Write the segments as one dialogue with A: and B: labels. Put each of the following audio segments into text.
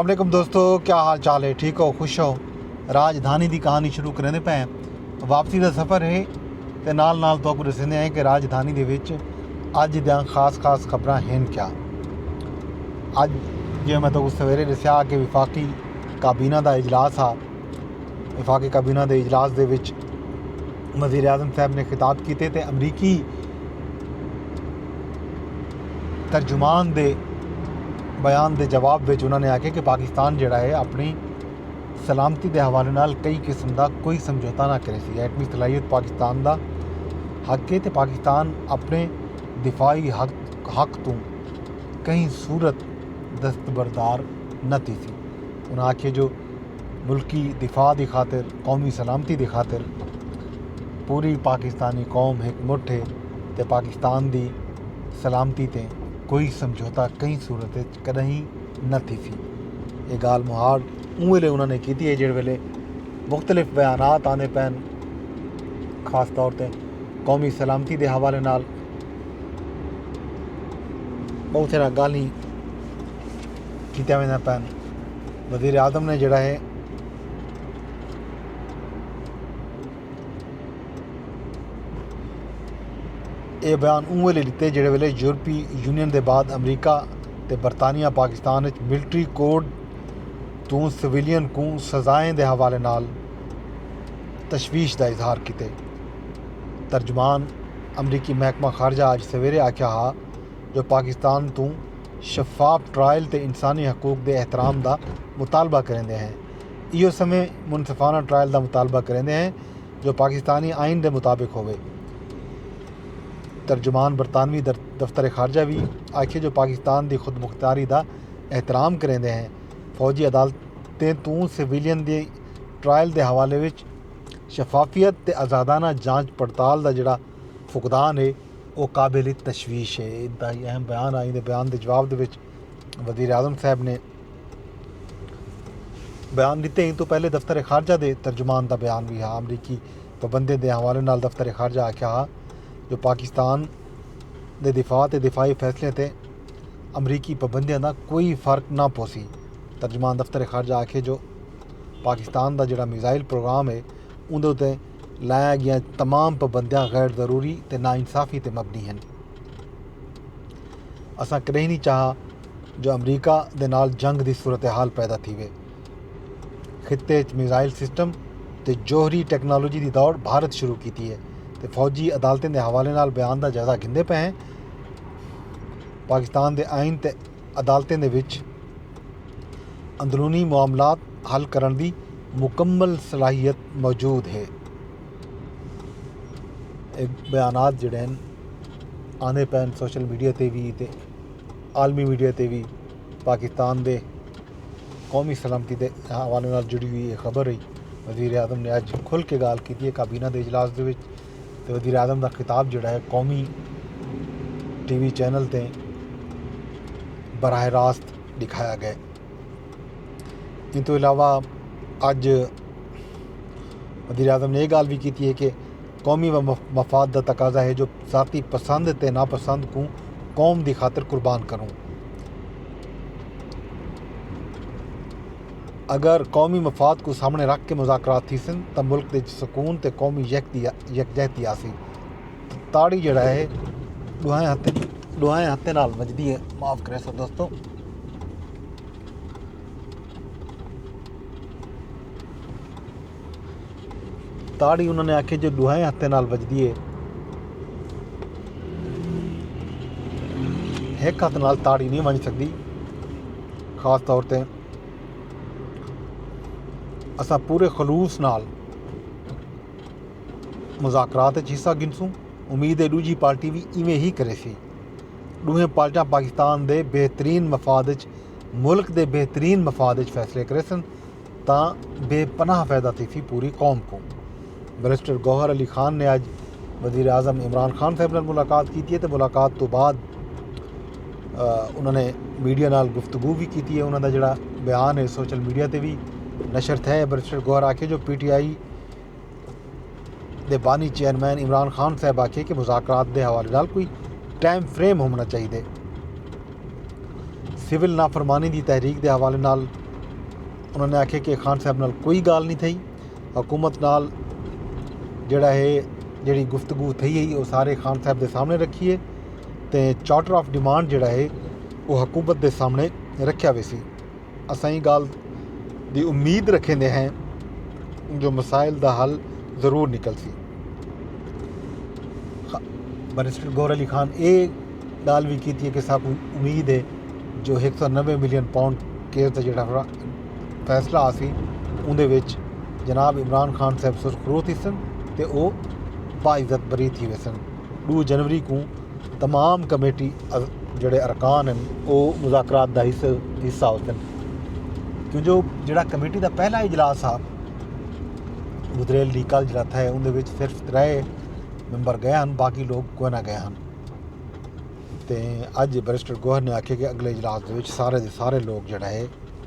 A: علیکم دوستو کیا حال چال ہے ٹھیک ہو خوش ہو راج دھانی دی کہانی شروع کریں دے پئے واپسی دا سفر ہے تے نال نال تو کو دسیندے ہیں کہ راج دھانی دے وچ اج دیاں خاص خاص خبراں ہیں کیا اج جے میں تو کو سویرے دسیا کہ وفاقی کابینہ دا اجلاس ہا وفاقی کابینہ دے اجلاس دے وچ وزیر اعظم صاحب نے خطاب کیتے تے امریکی ترجمان دے بیان دے جواب وچ انہاں نے آکھیا کہ پاکستان جیڑھا ہے اپنی سلامتی دے حوالے نال کئی قسم دا کوئی سمجھوتہ نہ کریسی، ایٹمی صلاحیت پاکستان دا حق ہے تے پاکستان اپنڑے دفاعی حق توں کہیں صورت دستبردار نہ تھیسی۔ انہاں آکھیا جو ملکی دفاع دی خاطر قومی سلامتی دی خاطر پوری پاکستانی قوم ہک مٹھ ہے۔ تے پاکستان دی سلامتی تے کوئی سمجھوتہ کہیں صورت اچ کݙاہیں نہ تھیسی۔ اے ڳالھ مہاڑ اوں ویلے انہاں نے کیتی اے جیڑھے ویلے مختلف بیانات آندے پئن خاص طور تے قومی سلامتی دے حوالے نال ٻہوں سارا ڳالھیں کیتیاں ویندیاں پئن۔ وزیراعظم نے جیڑھا اے اے بیان اوں ویلے ڈتے جیڑھے ویلے یورپی یونین دے بعد امریکہ تے برطانیہ پاکستان اچ ملٹری کوڈ توں سویلین کوں سزائیں دے حوالے نال تشویش دا اظہار کیتے۔ ترجمان امریکی محکمہ خارجہ اج سویرے آکھیا ہا جو پاکستان توں شفاف ٹرائل تے انسانی حقوق دے احترام دا مطالبہ کریندے ہیں۔ ایہو سمیں منصفانہ ٹرائل دا مطالبہ کریندے ہیں جو پاکستانی آئین دے مطابق ہووے۔ ترجمان برطانوی دفتر خارجہ وی آکھیے جو پاکستان دی خودمختاری دا احترام کریندے ہیں، فوجی عدالتیں توں سویلین دی ٹرائل دے حوالے وچ شفافیت تے آزادانہ جانچ پڑتال دا جیڑھا فقدان اے او قابل تشویش اے۔ انتہائی اہم بیان آئین دے بیان دے جواب دے وچ وزیراعظم صاحب نے۔ بیان ڈتے ایں توں پہلے دفتر خارجہ دے ترجمان دا بیان وی ہا۔ امریکی پابندیں دے حوالے نال دفتر خارجہ آکھیا ہا جو پاکستان دے دفاع تے دفاعی فیصلیاں تے امریکی پابندیاں دا کوئی فرق نہ پوسی۔ ترجمان دفتر خارجہ آکھیے جو پاکستان دا جیڑھا میزائل پروگرام اے اوندے اتے لائیاں گیاں تمام پابندیاں غیر ضروری تے ناانصافی تے مبنی ہن۔ اساں کڈہیں نی چاہا۔ جو امریکہ دے نال جنگ دی صورتحال پیدا تھیوے، خطے اچ میزائل سسٹم تے جوہری ٹیکنالوجی دی دوڑ بھارت شروع کیتی اے تے فوجی عدالتیں دے حوالے نال بیان دا جائزہ گھندے پئے ہیں، پاکستان دے آئین تے عدالتیں دے وچ اندرونی معاملات حل کرݨ دی مکمل صلاحیت موجود اے۔ اے بیانات جیڑھے ہن آندے پئے ہن سوشل میڈیا تے وی تے۔ عالمی میڈیا تے وی پاکستان دے قومی سلامتی دے حوالے نال جڑی ہوئی اے خبر ہئی۔ وزیر اعظم نے اج کھل کے گالھ کیتی اے کابینہ دے اجلاس دے وچ تے وزیر اعظم دا خطاب جیڑھا اے قومی ٹی وی چینل تے براہ راست ڈکھایا گئے۔ ایں توں علاوہ اج وزیر اعظم نے اے گالھ وی کیتی اے کہ قومی مفاد دا تقاضا ہے جو ذاتی پسند تے ناپسند کوں قوم دی خاطر قربان کروں۔ اگر قومی مفاد کوں سامݨے رکھ کے مذاکرات تھیسن تاں ملک دے اچ سکون تے قومی یکجہتی آسی۔ تاڑی جیڑھا ہے ݙوہیں ہتھیں نال وڄدی ہے۔ معاف کریسو دوستو۔ تاڑی انہاں نے آکھیا جو ڈوہیں ہتھیں نال وجدی ہے ہک ہتھ نال تاڑی نہیں ونج سکدی خاص طور تے اساں پورے خلوص نال مذاکرات وچ حصہ گھنسوں امید ہے ڈوجھی پارٹی بھی ایویں ہی کرے سی ڈوہیں پارٹیاں پاکستان دے بہترین مفاد وچ ملک دے بہترین مفاد وچ فیصلے کرے سن تاں بے پناہ فیدہ تھیسی پوری قوم کوں۔ بیرسٹر گوہر علی خان نے اج وزیراعظم عمران خان صاحب نال ملاقات کیتی ہے تے ملاقات توں بعد انہاں نے میڈیا نال گفتگو وی کیتی ہے۔ انہاں دا جیہڑا بیان ہے سوشل میڈیا تے وی نشر تھئے۔ بیرسٹر گوہر آکھیے جو پی ٹی آئی دے بانی چیئرمین عمران خان صاحب آکھیے کہ مذاکرات دے حوالے نال کوئی ٹائم فریم ہووݨا چاہیدے۔ سول نافرمانی دی تحریک دے حوالے نال انہاں نے آکھیے کہ خان صاحب نال کوئی ڳالھ نی تھئی حکومت نال جیڑھا ہے جیڑھی گفتگو تھئی ہئی او سارے خان صاحب دے سامݨے رکھی ہے تے چارٹر آف ڈیمانڈ جیڑھا ہے او حکومت دے سامݨے رکھیا ویسی۔ اساں ایں گالھ دی امید رکھیندے ہیں جو مسائل دا حل ضرور نکلسی۔ بیرسٹر گور علی خان اے گالھ وی کیتی کہ اساں کوں امید ہے جو ہک سو نوے ملین پاؤنڈ کیس دا جیڑھا فیصلہ آسی اوندے وچ جناب عمران خان صاحب سرخرو تھیسن تے او باعزت بری تھی ویسن ݙو جنوری کوں تمام کمیٹی جیڑے ارکان ہن او مذاکرات دا حصہ ہوسن کیوں جو جیڑا کمیٹی دا پہلا اجلاس ہا گزریل دی کل جیڑا تھے اوندے وچ صرف ترے ممبر گئے ہن باقی لوگ کوئی نہ گئے ہن تے اج بیرسٹر گوہر نے آکھیا کہ اگلے اجلاس دے وچ سارے دے سارے لوگ جیڑا ہے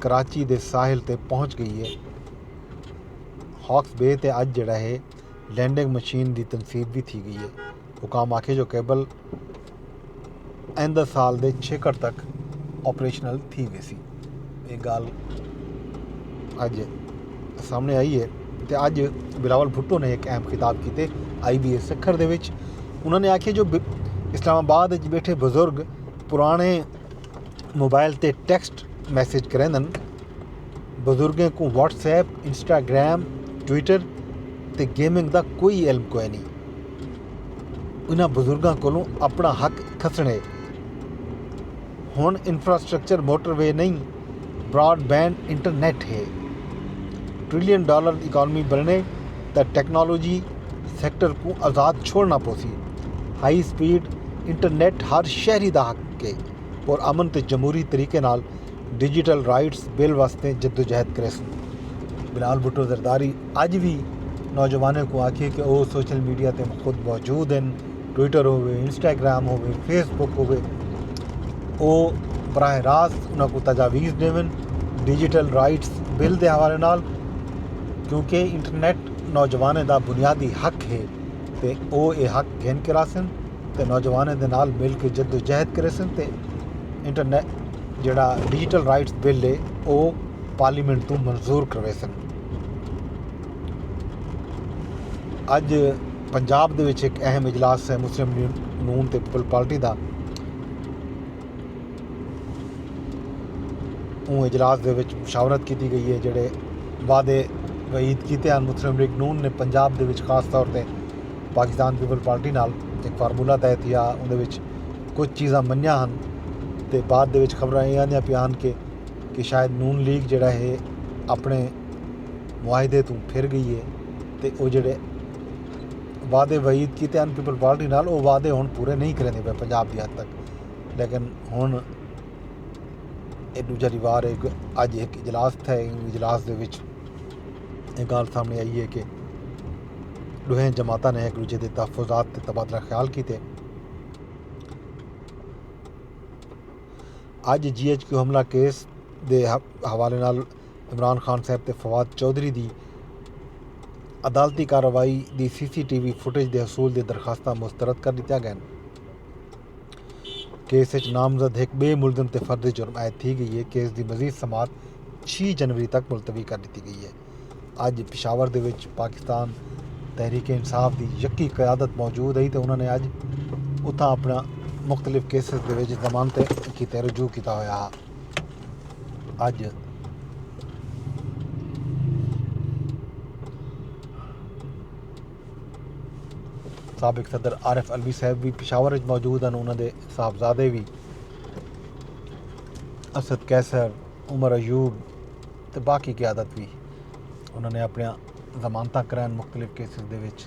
A: کراچی دے ساحل تے پہنچ گئی ہے ہاکس بے تے اج جڑا ہے لینڈنگ مشین دی تنصیب بھی تھی گئی ہے حکام آکھے جو کیبل آئندہ سال دے چھیکڑ تک آپریشنل تھی ویسی یہ گال اج سامنے آئی ہے تے اج بلاول بھٹو نے ایک اہم خطاب کیتے آئی بی اے سکھر دے وچ انہوں نے آکھے جو اسلام آباد وچ بیٹھے بزرگ پرانے موبائل تے ٹیکسٹ میسج کریندن بزرگیں کوں واٹس ایپ انسٹاگرام ٹویٹر تے گیمنگ دا کوئی علم کوئی نہیں انہاں بزرگاں کولوں اپنا حق کھسنڑے ہن انفراسٹرکچر موٹر وے نہیں براڈ بینڈ انٹرنیٹ ہے۔ ٹریلین ڈالر اکانومی بنڑے تاں ٹیکنالوجی سیکٹر کوں آزاد چھوڑنڑاں پوسی۔ ہائی سپیڈ انٹرنیٹ ہر شہری دا حق ہے۔ پر امن تے جمہوری طریقے نال ڈیجیٹل رائٹس بل واسطے جدوجہد کریسوں۔ بلال بھٹو زرداری اج وی نوجواناں کوں آکھیے کہ او سوشل میڈیا تے خود موجود ہن۔ ٹویٹر ہووے انسٹاگرام ہووے فیس بک ہووے او براہ راست انہاں کو تجاویز ݙیون ڈیجیٹل رائٹس بل دے حوالے نال کیونکہ انٹرنیٹ نوجوانیں دا بنیادی حق ہے تے او اے حق گھن کے راسن تے نوجوانیں دے نال مل کے جد و جہد کریسن تے انٹرنیٹ جیڑھا ڈیجیٹل رائٹس بل ہے او پارلیمنٹ توں منظور کرویسن اج پنجاب دے وچ ایک اہم اجلاس ہے مسلم نون تے پیپل پارٹی دا اون اجلاس دے وچ مشاورت کیتی گئی ہے جڑے وعدے وعید کیتے ہیں مسلم لیگ نون نے پنجاب دے وچ خاص طور تے پاکستان پیپل پارٹی نال ایک فارمولا طے تھیا اون دے وچ کچھ چیزاں منیا ہن تے بعد دے وچ خبراں یہ آندیاں پیان کے کہ شاید نون لیگ جڑا ہے اپنے معاہدے توں پھر گئی ہے تے او جیڑھے وعدے وعید کیتے ہن پیپلز پارٹی نال او وعدے ہن پورے نہیں کریندے پئے پنجاب دی حد تک لیکن ہن اے ݙوجھا ݙیوار ہے کہ اڄ ہک اجلاس تھئے اوں اجلاس دے وچ اے ڳالھ سامݨے آئی ہے کہ ݙوہیں جماعتاں نے ہک ݙوجھے دے تحفظات تے تبادلہ خیال کیتے اڄ جی ایچ کیو حملہ کیس دے حوالے نال عمران خان صاحب تے فواد چوہدری دی عدالتی کارروائی دی C C T V footage دے حصول دی درخواستاں مسترد کر ݙتیاں ڳئن۔ کیس اچ نامزد ہک ٻئے ملزم تے فرد جرم عائد تھی ڳئی اے۔ کیس دی مزید سماعت چھی جنوری تک ملتوی کر ݙتی ڳئی اے۔ اڄ پشاور دے وچ پاکستان تحریک انصاف دی یکی قیادت موجود ہئی تے انہاں نے اڄ اتھاں اپݨیاں مختلف کیسز دے وچ ضمانتیں کیتے رجوع کیتا ہویا ہا۔ اج سابق صدر عارف علوی صاحب بھی پشاور اچ موجود ہیں انہاں دے صاحبزادے بھی اسد قیصر عمر ایوب تے باقی قیادت بھی انہاں نے اپنی ضمانتاں کرائن مختلف کیسز دے وچ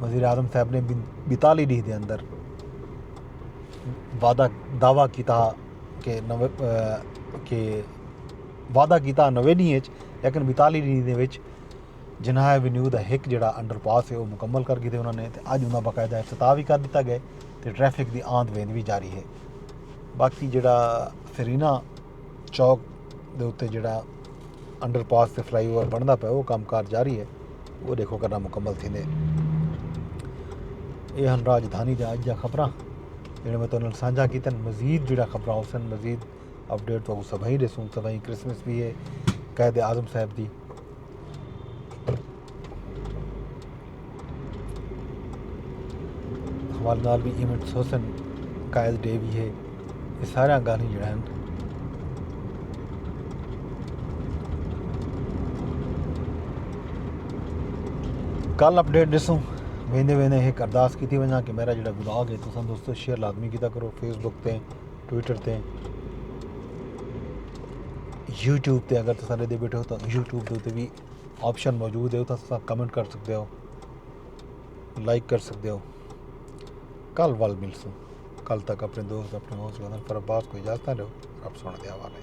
A: وزیراعظم صاحب نے بیتالی ڈینھ دے اندر وعدہ دعوی کیتا کہ کہ وعدہ کیتا نوے ڈینھ اچ لیکن بیتالی ڈینھ دے وچ جناح ایونیو دا ہک جیڑا انڈر پاس ہے او مکمل کر گھدے انہاں نے تے اج انہاں باقاعدہ افتتاح وی کر ڈتا گئے تے ٹریفک دی آند ویند وی جاری ہے باقی جیڑا سرینا چوک دے اتے جڑا انڈر پاس تے فلائی اوور بندا پیا وہ کام کار جاری ہے وہ دیکھو کرنا مکمل تھی دے یہ ہن راجدھانی دے آج دیا خبراں جڑے میں تنہوں سانجا کی تن مزید جڑا خبراں ہو سن مزید اپڈیٹ تو سبھائی دے سن سبھائی کرسمس بھی ہے قید اعظم صاحب دی حوالے نال بھی ایونٹس حسن قائد ڈے بھی ہے یہ سارا گالیں جڑا ہے کل اپڈیٹ ڈسوں ویندے ویندے ایک ارداس کیتی ونجا کہ میرا جڑا بلاگ ہے تو سن دوستو شیئر لازمی کیتا کرو فیس بک تے ٹویٹر تے یوٹیوب تے اگر تساں ݙیکھدے بیٹھے ہو تاں یوٹیوب دے اتے وی آپشن موجود ہے اتھاں تساں کمنٹ کر سکدے ہو لائک کر سکدے ہو کل ول ملسوں کل تک اپنے دوست اپنے ہوسٹ گندن پر عباس کو اجازت نہ دو رب سونے دے حوالے